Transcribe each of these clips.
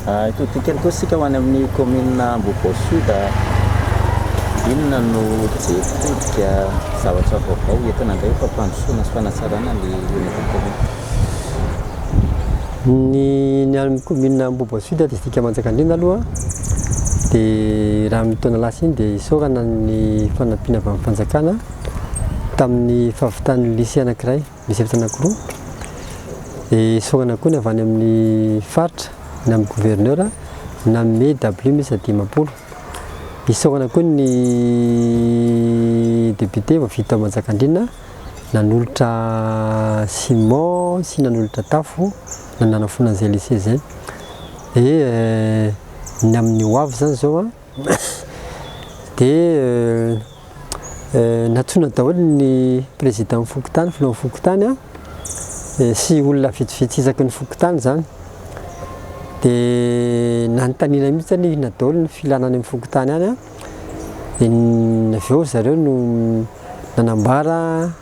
Hitodika ihany koa isika ho any amin'ny kaominina Ambohipo Sud. Inona no jerin-todika, zavatra vaovao entina indray fampandrosoana sy fanatsarana ny orinasa kaominina? Ny any amin'ny kaominina Ambohipo Sud, distrika Manjakandriana aloha dia raha amin'ny taona lasa iny dia isaorana ny fanampiana avy amin'ny fanjakana tamin'ny fahavitan'ny lycée anankiray. misy efitra anankiroa, dia esorana koa ny avy any amin'ny faritra na amin'ny gouverneur na amin'ny DABLU miisa dimampolo. Isaorana koa ny député vao vita tao Manjakandriana nanolotra ciment sy nanolotra tafo na nanafoana an'izay lycée izay. Dia ny amin'ny ho avy izany izao an, Dia nantsoina daholo ny prezidan'ny fokontany, filohan'ny fokontany, sy olona vitsivitsy isaky ny fokontany izany. Dia nanontaniana mihitsy anie inona daholo ny filana any amin'ny fokontany any. Dia avy eo ry zareo no nanambara.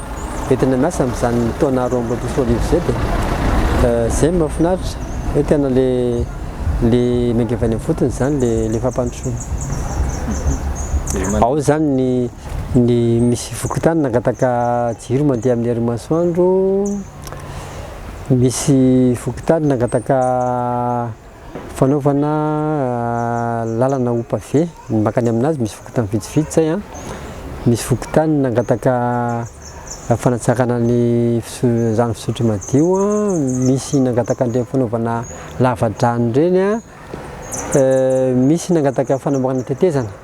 Dia tena miasa amin'izany taona roa amby roapolo sy roa arivo izay dia izay no mahafinaritra hoe tena le le miainga avy any amin'ny fotony izany le le fampandrosoana. Ao izany ny ny misy fokontany nangataka jiro mandeha amin'ny herin'ny masoandro, misy fokontany nangataka Fanaovana lalana ho pavé ny mankany amin'azy, misy fokontany vitsivitsy izay an, misy fokontany nangataka fanatsarana ny rano fisotro madio an, misy nangataka an'ireny fanaovana lava-drano ireny an, misy nangataka fanamboarana tetezana.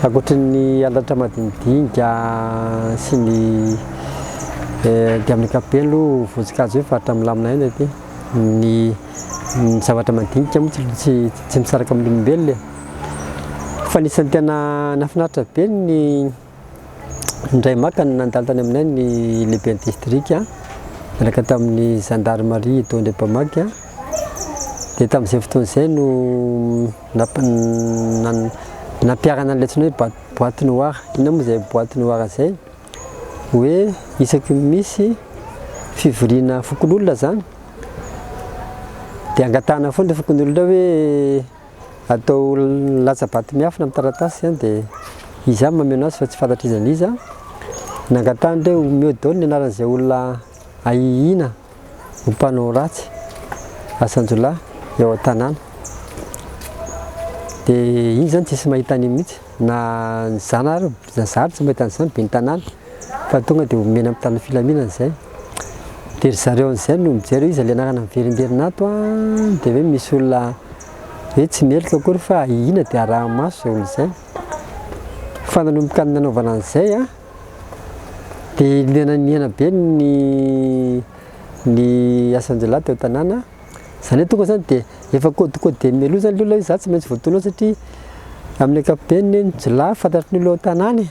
Ankoatry ny halatra madinidinika sy ny dia amin'ny ankapobeny aloha votsonkajy hoe faritra milamina ihany aty. Ny ny zavatra madinika moa tsy tsy misaraka amin'olombelona e. Fa ny isan'ny tena nahafinaritra be ny Indray maka no nandalo tany aminay ny lehiben'ny distrika miaraka tamin'ny zandarimaria eto Andriampamaky dia tamin'izay fotoana izay no nampiharana an'ilay antsoina hoe boîte noire. Inona moa izay boîte noire izay? Hoe isaky ny misy fivoriana fokonolona izany dia angatahana foana ilay fokonolona hoe Atao latsa-bato miafina amin'ny taratasy izany dia izy ihany mameno azy fa tsy fantatr' iza n'iza. Nangatahany hoe omeo daholo ny anaran'izay olona ahihiana ho mpanao ratsy, asan-jiolahy eo an-tanàna. Dia iny izany tsy hisy mahita an'io mihitsy na ny zana ary. Za zary tsy mahita an'izany ben'ny tanàna fa tonga dia omena amin'ny tanan'ny filaminana izay. Dia ry zareo an'izay no mijery hoe iza le anarana miverimberina ato an! dia hoe misy olona hoe tsy meloka akory fa ahiana dia arahi-maso izay olona izay. Fa nanomboka ny nanaovana an'izay an, dia nihena be ny ny asan-jiolahy teo an-tanàna. Izany hoe tonga izany dia efa code codeny mialoha izany ilay olona hoe za tsy maintsy voadona ao satria amin'ny ankapobeny ny hoe ny jiolahy fantatry ny olona ao an-tanàna e!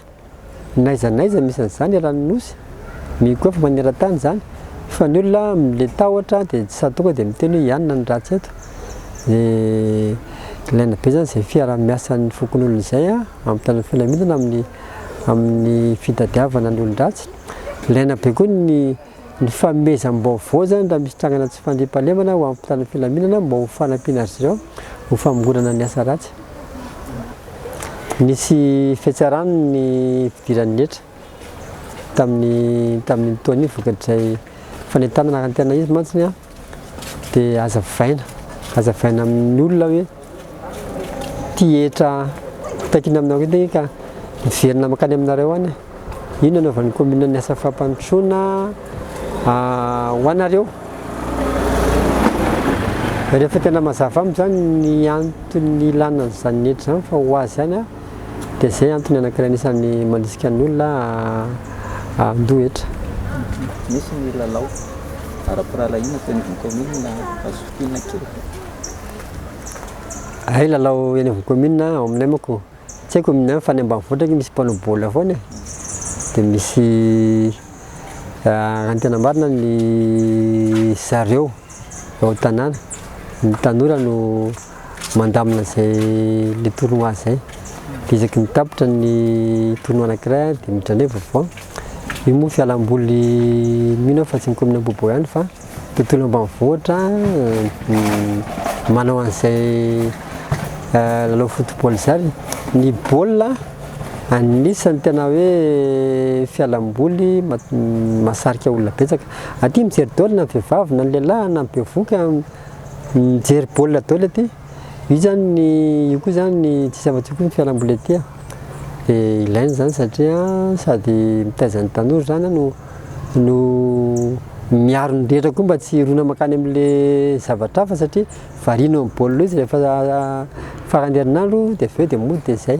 N'aiza n'aiza misy an'izany eran'ny Nosy, mino koa fa maneran-tany izany fa ny olona mila tahotra dia tsy sady tonga dia miteny hoe ianona ny ratsy eto. Dia ilaina be izany izay fiaraha-miasan'ny fokonolona izay an, hampitana ny filaminana amin'ny amin'ny fitadiavana ny olon-dratsy. Ilaina be koa ny ny fanomezam-baovao izany raha misy trangana tsy fandriampahalemana ho an'ny mpitandro ny filaminana mba ho fanampiana azy ireo ho famongonana ny asa ratsy. Nisy fihetsarano ny fidiran'ny hetra tamin'ny tamin'iny taona iny vokatrizay fanentanana tena izy mantsy ny Dia hazavaina, hazavaina amin'ny olona hoe ity hetra takiana aminareo ity ka miverina mankany aminareo any e! Io no anaovan'ny kaominina ny asa fampandrosoana ho anareo. Rehefa tena mazava amiko izany ny antony ilana an'izany hetra izany fa ho azy ihany an! Dia izay antony anankiray anisan'ny mandrisika ny olona handoa hetra. Misy ny lalao ara-pirahalahiana teo anivon'ny kaominina Hazofitina kely ve? Hay lalao eny anivon'ny kaominina ao aminay manko tsy haiko ny any fa ny ambanivohitra ange misy mpanao baolina foana e. Dia misy raha ny tena marina ny zareo ao an-tanàna ny tanora no mandamina izay le tournoi zay de isaky ny tapitra ny tournoi anakiray de midrandray vaovao io moa fialamboly mino fa tsy ny commune Ambohibo ihany fa tontolo ambanivohitra manao an'izay eh, lalao football zany ny baolina anisan'ny tena hoe fialamboly masarika olona betsaka aty mijery daoly na vehivavy na lehilahy na bevoka Mijery baolina daoly aty, io zany ny io koa zany ny tsy zava-tsoa koa ny fialamboly aty a, de ilaina zany satria sady mitaiza ny tanora zany no no miaro ny rehetra koa mba tsy hirona mankany amle zavatra hafa satria variana eo amin'ny baolina eo izy rehefa farany herinandro de aveo de mody de zay.